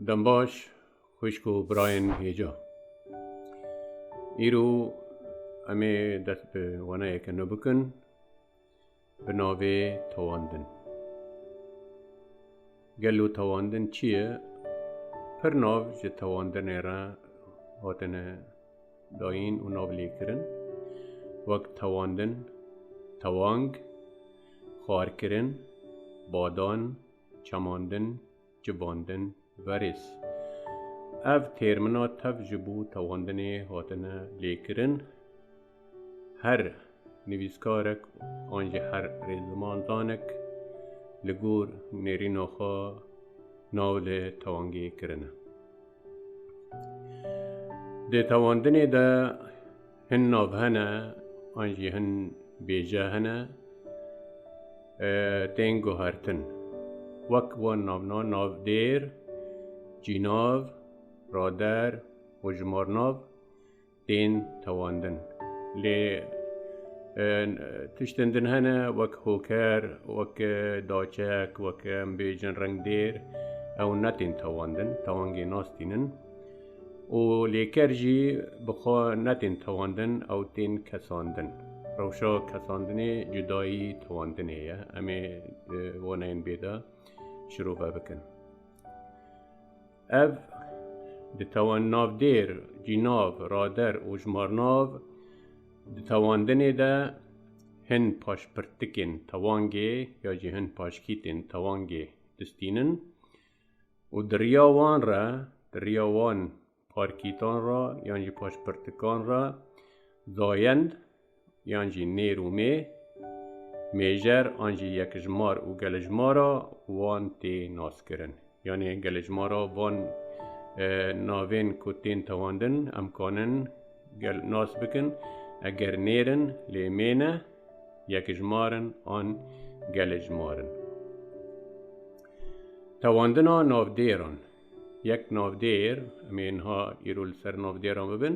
Dembaş xwişk û birayên hêja. Îro em ê dest bi waneyeke nû bikin bi navê tewandin. Gelo tewandin çi ye? Pir nav ji tewandinê re hatine dayîn û navlêkirin wek tewandin, tewang, xwarkirin, badan, çemandin, cibandin, verês. Ev têrmina tev ji bo tewandinê hatine lêkirin. Her nivîskarek an jî her rêzlimandanek li gor nêrîna xwe navê tewangê kirine. Di tewandinê de hin nav hene an jî hin bêje hene tên guhertin. Wek wan navna navdêr, cînav, rader û jimarnav tên tewandin. Lê tiştên din hene wek hoker, wek daçek, wek em bêjin rengdêr ew ne tên tewandin, tewangê nas tînin. û lêker jî bixwe netên tewandin ew tên kesandin. Rewşa kesandinê cudayî tewandinê ye em ê waneyên bê de şirove bikin. Ev, di tewan navdêr, cînav, rader û ji marnav di tewandinê de hin paşpirtikên tewangê ya jî hin paşkîtên tewangê distînin û di riya wan re, di riya wan parkîtan re yan jî paşpirtikan re dayend. yan jî nêr û mê, mêjer an jî yekijmar û gelijmara wan tê naskirin. Yanê gelijmara van e, navên ku tên tewandin em kanin gel nas bikin eger nêrin lê mê ne yekijmarin an gelijmarin. Tewandina navdêran yek navdêr em ê niha îro li ser navdêran bibin.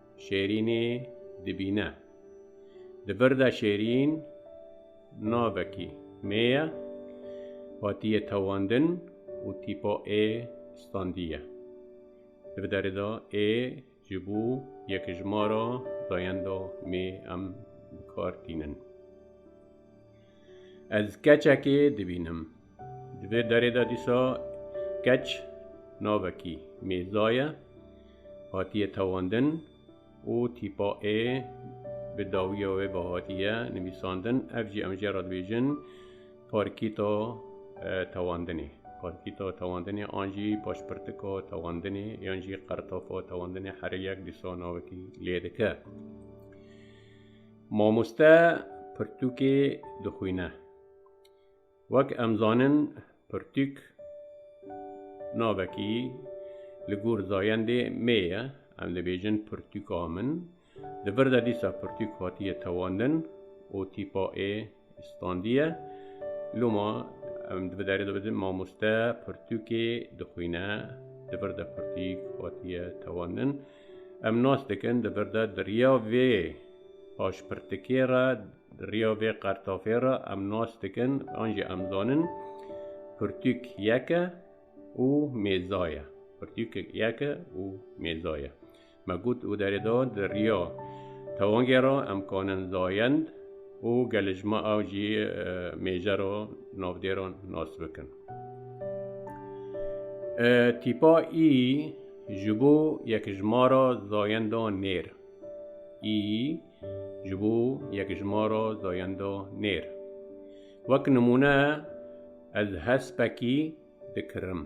Şêrînê dibîne. Di vir de Şêrîn navekî mê ye, hatiye tewandin û tîpa ê standiye. Di bi derê de ê ji bo yekijmara dayenda mê em bi kar tînin. Ez keçekê dibînim. Di vê derê de dîsa keç navekî Mîrza ye, hatiye tewandin û tîpa ê bi dawiya wê ve hatiye nivîsandin, ev jî em jê re dibêjin parkîta tewandinê. Parkîta tewandinê an jî paşpirtika tewandinê yan jî qertafa tewandinê herê yek dîsa navekî lê dike. Mamoste pirtûkê dixwîne. Wek em zanin pirtûk navekî li gor zayendê mê ye, em dibêjin pirtûka min. Di vir de dîsa pirtûk hatiye tewandin û tîpa ê standiye. Loma em di derê de bidin mamoste pirtûkê dixwîne, di vir de pirtûk hatiye tewandin. Em nas dikin di vir de di riya vê paşpirtikê re Di riya vê qertafê re em nas dikin an jî em zanin pirtûk yek e û mêza ye. Pirtûk yek e û mêza ye. Me got û derê da di riya tewangê re em kanin zayend û gelêjma ew jî mêje re navdê re nas bikin. Tîpa î ji bo yekijmara zayendan nêr î Ji bo yekjimara zayenda nêr wek nimûne ez hespekî dikirim.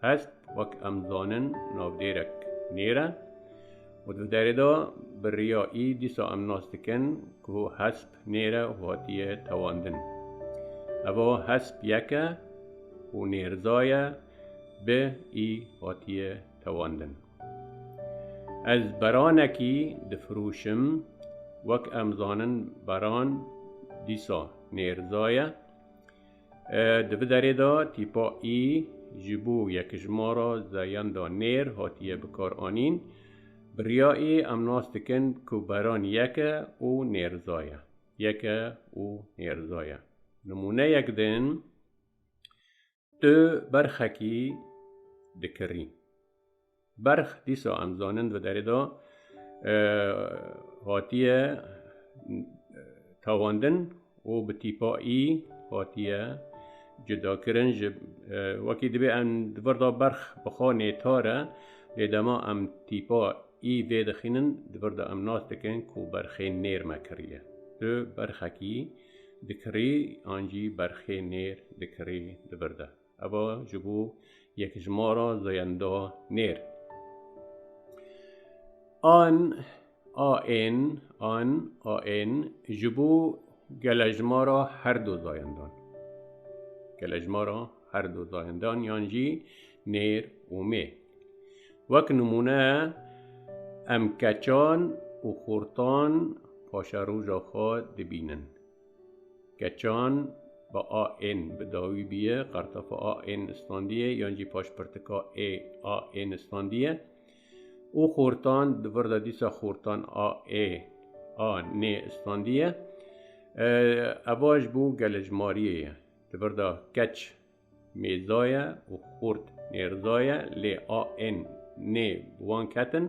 Hesp wek em zanin navdêrek nêr e û di derê de bi riya î dîsa em nas dikin ku hesp nêr e û hatiye tewandin. Eva hesp yek e û nêrzaye bi î hatiye tewandin. Ez beranekî difirûşim, wek em zanin beran dîsa nêrza ye. Di vi derê de tîpa î ji bo yekijmara zeyan da nêr hatiye bikaranîn. Bi riya î em nas dikin ku beran yek e û nêrza ye. Yek e û nêrza ye. Nimûneyek din, Tu berxekî dikirî. Berx dîsa em zanin di derê de hatiye tawandin û bi tîpa î hatiye cudakirin ji wekî dibê em di vir de berx bixwe nêtar e lê dema em tîpa î vê dixînin di vir de em nas dikin ku berxê nêrme kiriye tu berxekî dikirî yan jî berxê nêr dikirî di vir de. Eva ji bo yekjimara zayenda nêr. An, a ên, an, a ên ji bo gelejmara her du zayendan. Gelejmara her du zayendan yan jî nêr û mê. Wek nimûne em keçan û xortan paşeroja xwe dibînin. Keçan bi a ên bi dawî biye, qartafa a ên istandiye yan jî paşpirtika ê a ên istandiye û xortan di vir de dîsa xortan a ê a nê istandiye. Ev ji bo gelejmariyê ye. Di vir de keç Mêza ye û xurt nêrza ye lê a ên nê bi wan ketin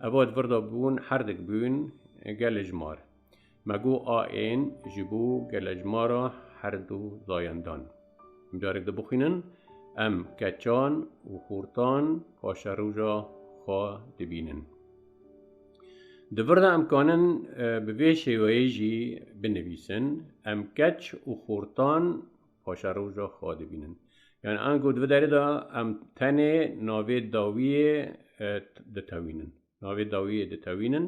eva di vir de bûn herdik bûn gelejmar. Me got a ên ji bo gelejmara herdu zayendan. Carek dibixwînin em keçan û xurtan paşeroja xwe dibînin. Di vir de em kanin bi vê şêweyê jî binivîsin, em keç û xurtan Paşa roja xwe dibînin. Yani ango di derê de em tenê navê dawiyê e, ditewînin. Navê dawiyê ditewînin,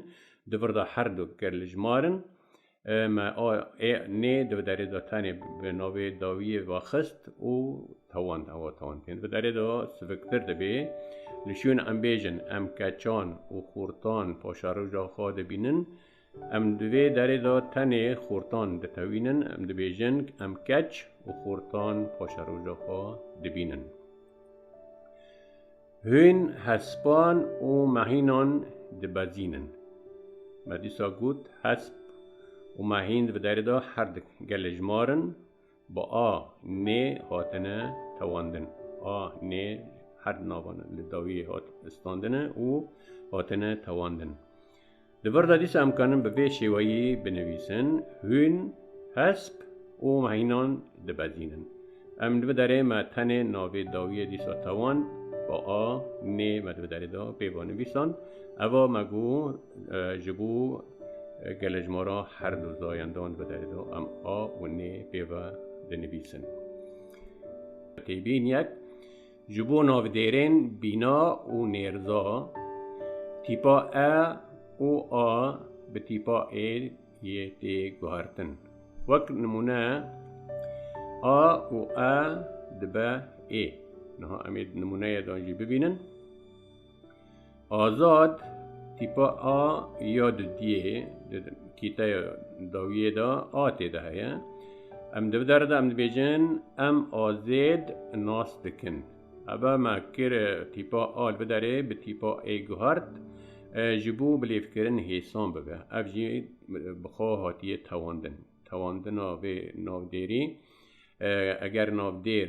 di vir de her du gerlijmarin e, me a ê nê di derê de tenê bi navê dawiyê vaxist û tewand hewa tewand tên. Di derê de siviktir dibê. Li şûn em bêjin em keçan û xortan paşaroja xwe dibînin. Em di vê derê de tenê xortan ditewînin, em dibêjin em keç û xortan paşeroja xwe dibînin. Hûn hespan û mehînan dibezînin. Me dîsa got hesp û mehînd di vê derê de her di gelê ji mar in, Bi a, nê hatine tewandin. A, nê her di navan e. Li dawiyê hat standine û hatine tewandin. Di vir de dîsa em karin bi vê şêweyî binivîsin, Hûn hesp û hînan dibezînin. Em li vê derê me tenê navê dawiyê dîsa tewand, bi a, nê me di vê derê de pê ve nivîsand. Eva me got ji bo Gelê ji ma re her du dayên dan bi derê de em a û nê pêve dinivîsin. Têbîn yek ji bo navdêrên bîna û nêrza tîpa e û a bi tîpa ê yê tê guhertin. Wek nimûne a û e dibe ê. Niha em ê nimûneyê de jî bibînin. Azad tîpa a ya di diyê di kîteya dawiyê de a tê de heye. Em di der de em dibêjin em azêd nas dikin. Ebe me kir tîpa a li biderê bi tîpa ê guhart ji bo bilêvkirin hêsan bibe. Ev jî bi xwe hatiye tewandin. Tewandina vê navdêrî eger navdêr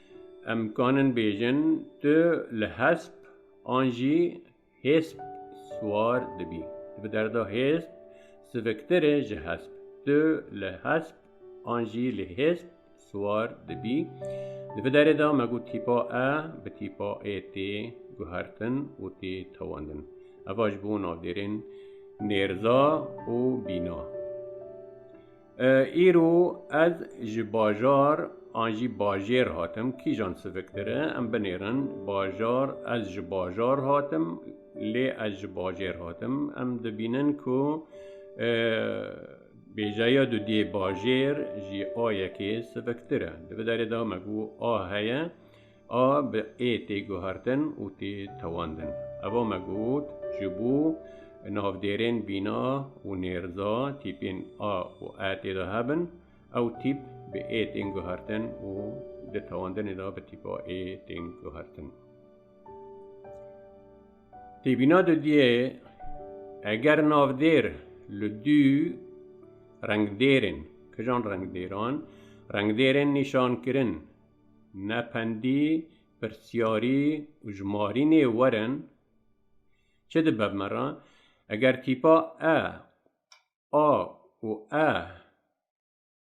Em kanin bêjin tu li hesp an jî hêsp siwar dibî. Di bi derda hêsp siviktir e ji hesp. Tu li hesp an jî li hêsp siwar dibî. Di bi derê de me got tîpa e bi tîpa ê tê guhertin û tê tewandin. Eva ji bo navdêrên nêrza û bîna. Îro ez ji bajar an jî bajêr hatim, kîjan siviktir e em binêrin, bajar ez ji bajar hatim, lê ez ji bajêr hatim. Em dibînin ku bêjeya du dê bajêr jî a yekê siviktir e. Di vê derê de me got a heye. A bi ê tê guhertin û tê tewandin. Eva me got ji bo navdêrên bîna û nêrza tîpên a û e têda hebin, ew tîp bi ê tên guhertin û di tewandinê de bi tîpa ê tên guhertin. Têbîna dudiyê eger navdêr li dû rengdêrên, kijan rengdêran, rengdêrên nîşankirin Nependî, pirsyarî û ji Marînê werin çi dibe me re? Eger tîpa e, a û e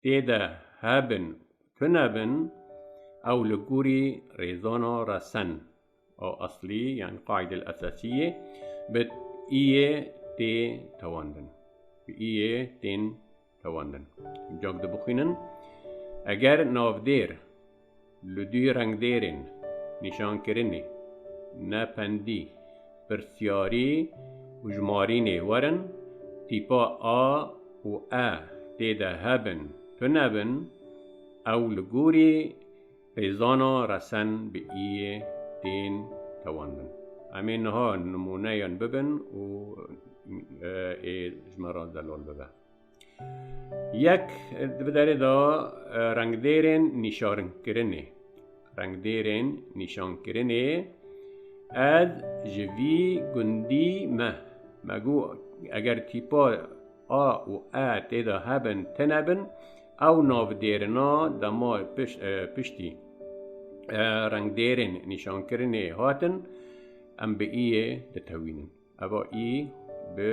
tê de hebin û tunebin, ew li gorî rêzana resen. O aslî yani qaydel esasiyê bi iyê tê tewandin. Bi iyê tên tewandin. Cak de bixwînin. Eger navdêr li dû rengdêrên nîşankirinê ne pendî pirsyarî û jimarînê werin tîpa a û e tê de hebin tu nebin ew li gorî Hêzana resen bi iyê tên tewandin. Em ê niha nimûneyan bibin û ê ji me re zelal bibe. Yek di derê de rengdêrên nîşankirinê. Rengdêrên nîşankirinê ez ji vî gundî me. Me got eger tîpa a û e têda hebin tine bin, ew navdêrina dema piştî rengdêrên nîşankirinê hatin, em bi î yê ditewînin. Eva î bi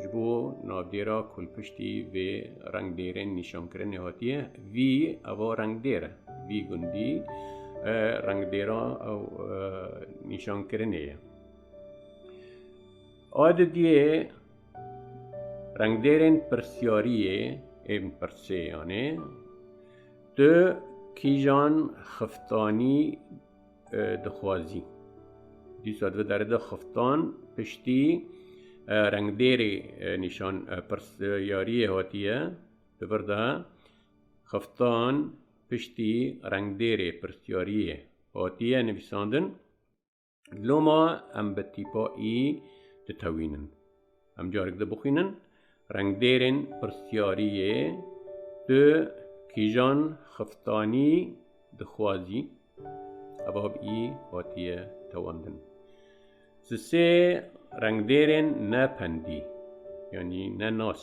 ji bo navdêra ku li piştî vê rengdêrên nîşankirinê hatiye, vî eva rengdêr e, vî gundî rengdêra ew nîşankirinê ye. A di diyê Rengdêrên pirsyariyê ên pirsê yanê tu kîjan xiftanî dixwazî? Dîsa divê deride xiftan piştî rengdêrê nîşan pirsyariyê hatiye di vir de xiftan piştî rengdêrê pirsyariyê hatiye nivîsandin. Loma em bi tîpa î ditewînin. Em carik dibixwînin rengdêrên pirsiyariyê tu kîjan xiftanî dixwazî evab î hatiye tewandin. Ji sê rengdêrên ne pendî yanî ne nas.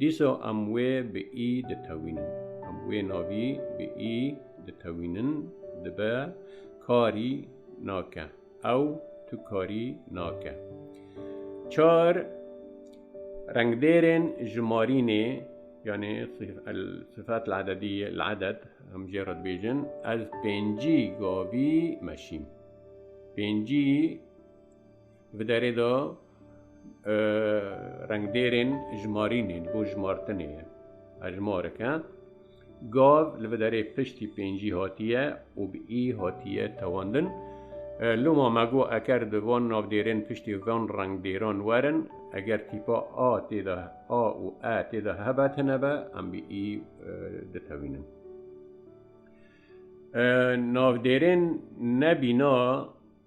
Dîsa em wê bi î ditewînin. Em wê navî bi î ditewînin dibe karî nake. Ew tu karî nake. Çar rengdêrên jimarînê yanê sifet lededî leded em jê re dibêjin ez pêncî gavî meşîm. Pêncî Bi derê de rengdêrên jimarînê bo jimartinê ye hejmarek e. Gav li bi derê piştî pêncî hatiye û bi î hatiye tewandin. Loma me got eker di van navdêrên piştî van rengdêran werin eger tîpa a tê de a û e tê de hebe tune be em bi î ditewînin. Navdêrên nebîna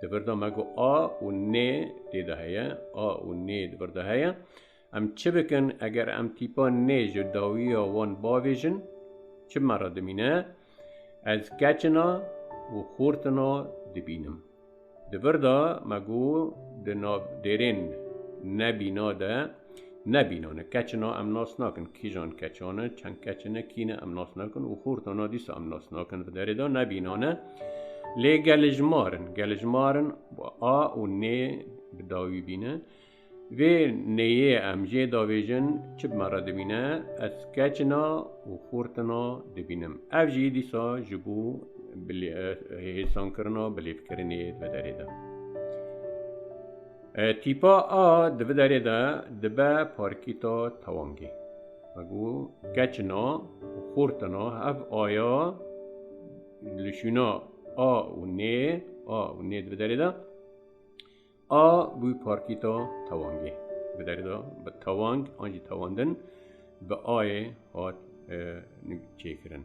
Di vir de me ku a û nê tê de heye, a û nê di vir de heye. Em çi bikin eger em tîpa nê ji dawiya wan bavêjin? Çi me re dimîne? Ez keçina û xortina dibînim. Di vir de me ku di nav dêrên ne bîna de Ne bîno ne keç na em nas nakin kîjan keçan e çend keç ne kî ne em nas nakin û xorta na dîsa em nas nakin di derê da ne bîno ne lê gelejmarin gelejmarin a û nê bi dawî bîne vê neyê em jê davêjin çi bi me re dibîne ez keçina û xortina dibînim ev jî dîsa ji bo hêsankirina bilêvkirinê di derê de Tîpa a di vi derê de dibe parkîta tewamgê. Me got keçina û xortina ev aya li şûna a û nê a û nê di vi derê de a bû parkîta tewamgê. Bi derê de bi tewang an jî tewandin bi ayê hat çêkirin.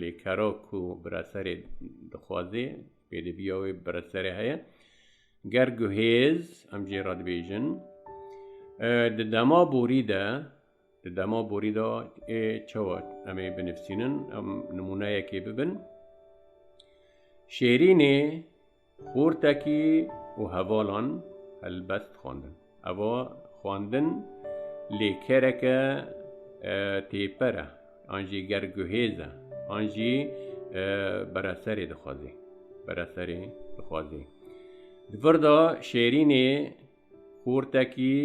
Li kero ku biraserê dixwaze pêdiviya wê biraserê heye ger guhêz em jê re dibêjin di dema borî de di dema borî de ê çewa em ê binivîsînin em nimûneyekê bibin şêrînê Xortekî û hevalan helbest xwendin. Eva xwendin lê kereke têper e an jî ger guhêz e an jî bereserê dixwazê. Bereserê dixwazê. Di vir de Şêrînê Xortekî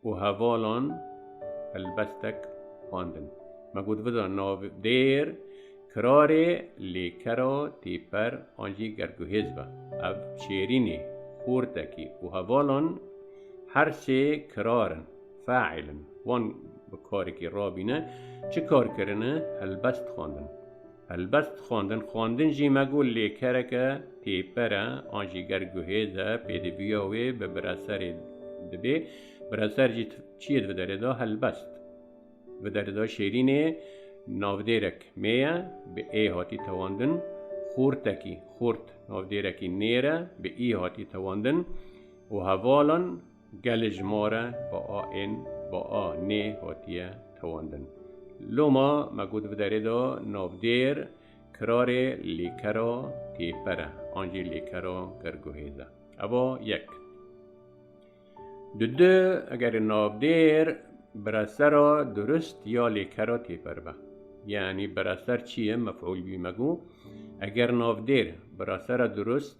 û hevalan helbestek xwendin. Me got vida nav dêr kirarê lê kera têper an jî gerguhêz be. Ev çêrînê, xortekî û hevalan her sê kirar in, faîl in. Wan bi karekî rabîne. Çi kar kirine? Helbest xwendin. Helbet xwendin xwendin jî me got lê kereke pêper e an jî ger guhêz e pêdiviya wê bi bireserê dibê bireser jî çiyê di derê de helbest bi derê de şêrînê navdêrek mêye bi ê hatî tewandin xortekî xort navdêrekî nêre bi î hatî tewandin û hevalan Gelê ji ma re bi a ên, bi a nê hatiye tewandin. Loma me got bi derê de navdêr kirarê lêkera têper e an jî lêkera gerguhêz e. Eva yek. Di du egerê navdêr biresera durist ya lêkera têper be. Yanî bireser çi ye mef'ûl bî me got eger navdêr biresera durist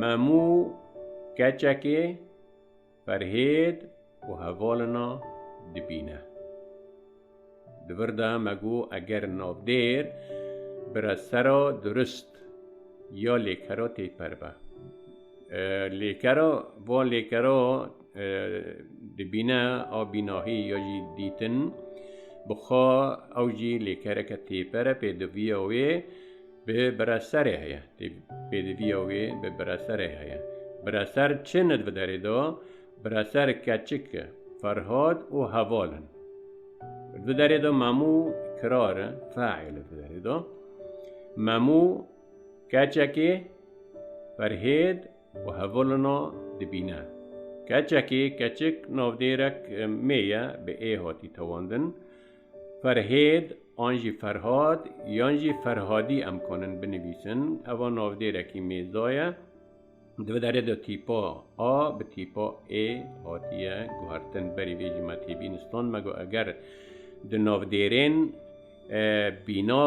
Memû keçekê ferhêd û hevalina dibîne. Di vir de me got eger navdêr bire sera durist ya lêkera têper be. Lêkera va lêkera dibîne a bînahî ya jî dîtin bixwe ew jî lêkereke têper e pê diviya wê Bi bireserê heye. Tê pêdiviya wê bi bireserê heye. Bireser çi nid bi derê da? Bireser keçik e. Ferhad û heval in. Di derê da memû kirar e. Faîl di derê da. Memû keçekê Ferhêd û hevalina dibîne. Keçekê keçik navdêrek mêye bi ê hatî tewandin. Ferhêd an jî Ferhad yan jî Ferhadî em kanin binivîsin. Eva navdêrekî mêza ye. Di vê derê de tîpa a bi tîpa ê hatiye guhertin. Berî vê jî me tê bînistan. Me got eger di navdêrên bîna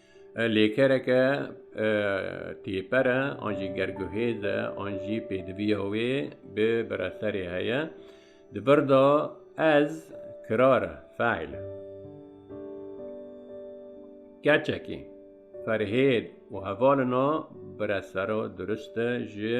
Lêkereke têper e an jî gerguhêz e an jî pêdiviya wê bi bireserê heye. Di vir de ez kirar e, feîl e. Keçekî, Ferhêd û hevalina biresera durist e ji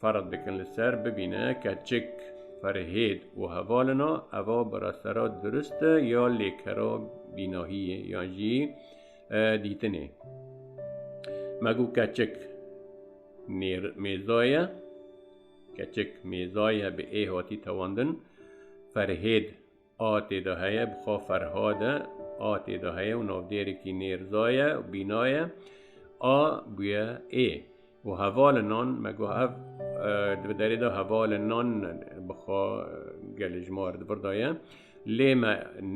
Ferq dikin li ser bibîne keçik Ferhêd û hevalina eva bi rastera dirust e ya lêkera bînahiyê yan jî dîtinê. Me got keçik mêza ye, keçik mêza ye bi ê hatî tewandin. Ferhêd A têde heye bi xwe Ferhad e. A têde heye û navdêrekî Nêrza ye û bîna ye. A bûye ê. Û hevalin nan me got ev di bi derê de hevalin nan bi xwe gelê ji mar di vir de ye. Lê me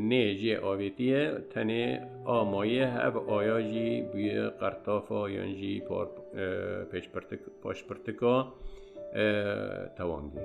nê jê avêtiye tenê a maye ev aya jî bûye qertafa yan jî paşpirtika tewangê.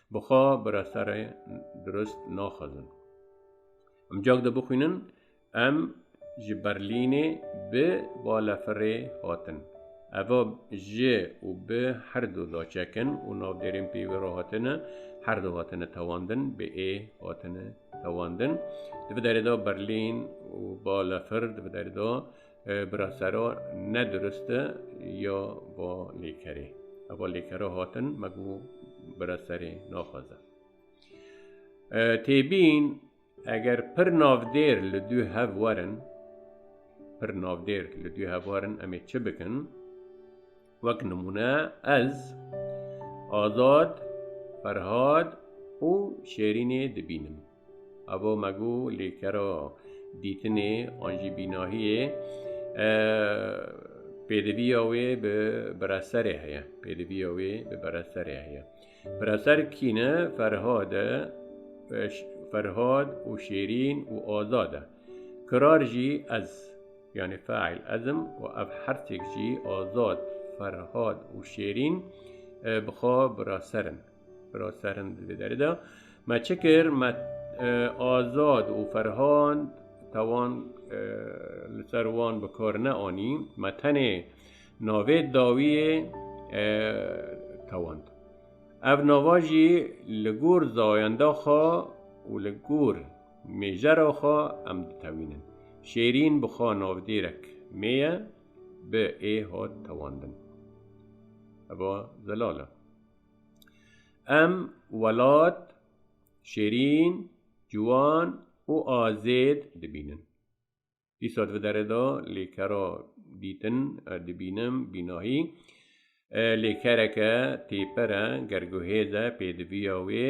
Bi xwe bi referê dirust naxwezin. Emcak de bixwînin em ji Berlînê bi balefirê hatin. Eva ji û bi her du daçekin û navdêrên pê wê re hatine, her du hatine tewandin, bi ê hatine tewandin. Di bi derê de Berlîn û balefir di bi derê de Bira sero ne duriste ya va lêkerê. Eva lêkera hatin me bû bira serê naxwaze. Têbîn eger pir navdêr li dû hev werin pir navdêr li dû hev werin em ê çi bikin? Wek nimûne ez azad, ferhad û şêrînê dibînim. Abo me got lê kera dîtinê an jî bînahiyê pêdiviya wê bi bireserê heye. Pêdiviya wê bi bireserê heye. Bireser kî ne Ferhad e Ferhad û Şêrîn û Azad e. Kirar jî ez yani fail ezim û ev hertêk jî Azad, Ferhad û Şêrîn bi xwe biraserin. Raserim divê derê de me çi kir me azad û ferhan tewan li ser wan bi kar neanî me tenê navê dawiyê tewand. Ev nava jî li gor zayenda xwe û li gor mêjera xwe em ditewînin. Şêrîn bi xwe navdêrek mêye bi ê hat tewandin. Eva zelal e. Em welat şêrîn, ciwan û azêd dibînin. Dîsa di derê de lêkera dîtin dibînim bînahî. Lêkereke têpere, gerguhêze pêdiviya wê.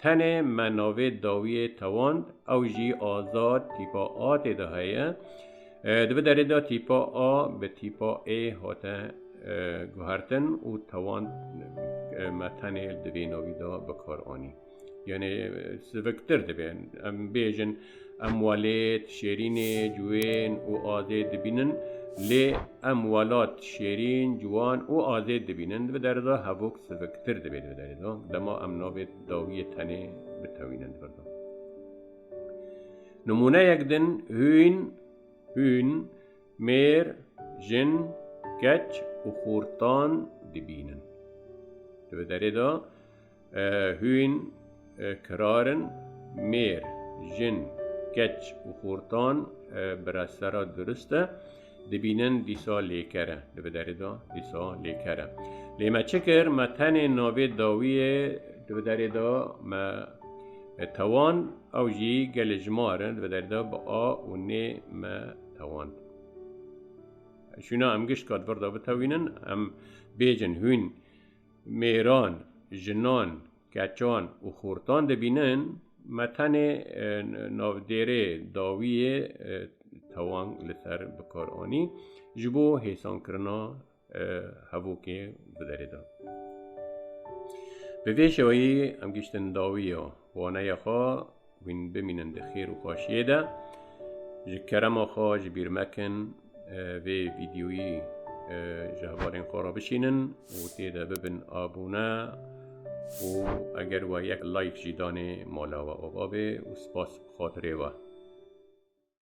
Tenê me navê dawiyê tewand ew jî azad tîpa A tê de heye. Di vê derê de tîpa A bi tîpa A hate guhertin û tewand me tenê di vê navî de bikar anî. Yanê siviktir dibe. Em bêjin Em welêt, şêrînê, ciwên û azêd dibînin. Lê em welat, şêrîn, ciwan û azêd dibînin, di bi derê de hevok siviktir dibê di bi derê de. Dema em navê dawiyê tenê bitewînin di bir de. Nimûneyek din hûn, hûn, mêr, jin, keç û xortan dibînin. Di bi derê de Hûn kirarin mêr, jin, keç û xortan bi rester re durist e. Dibînin dîsa lêker e. Di bi derê de dîsa lêker e. Lê me çi kir? Me tenê navê dawiyê di bi derê de me tewan ew jî gelê ji ma re di bi derê de bi a û nê me tewand. Şûna em gişt ka di vir de bitewînin em bêjin hûn mêran, jinan, keçan û xortan dibînin me tenê navdêrê dawî yê tewang li ser bikar anî ji bo hêsankirina hevokê bi derê de. Bi vê şeweyî em giştin dawiya waneya xwe Wîn bimînin di xêr û xweşiyê de. Ji kerema xwe ji bîr mekin vê vîdyoyî ji hevalên xwe re bişînin û tê de bibin abûne û eger we yek like jî danê mala we ava bê û spas bi xatirê we.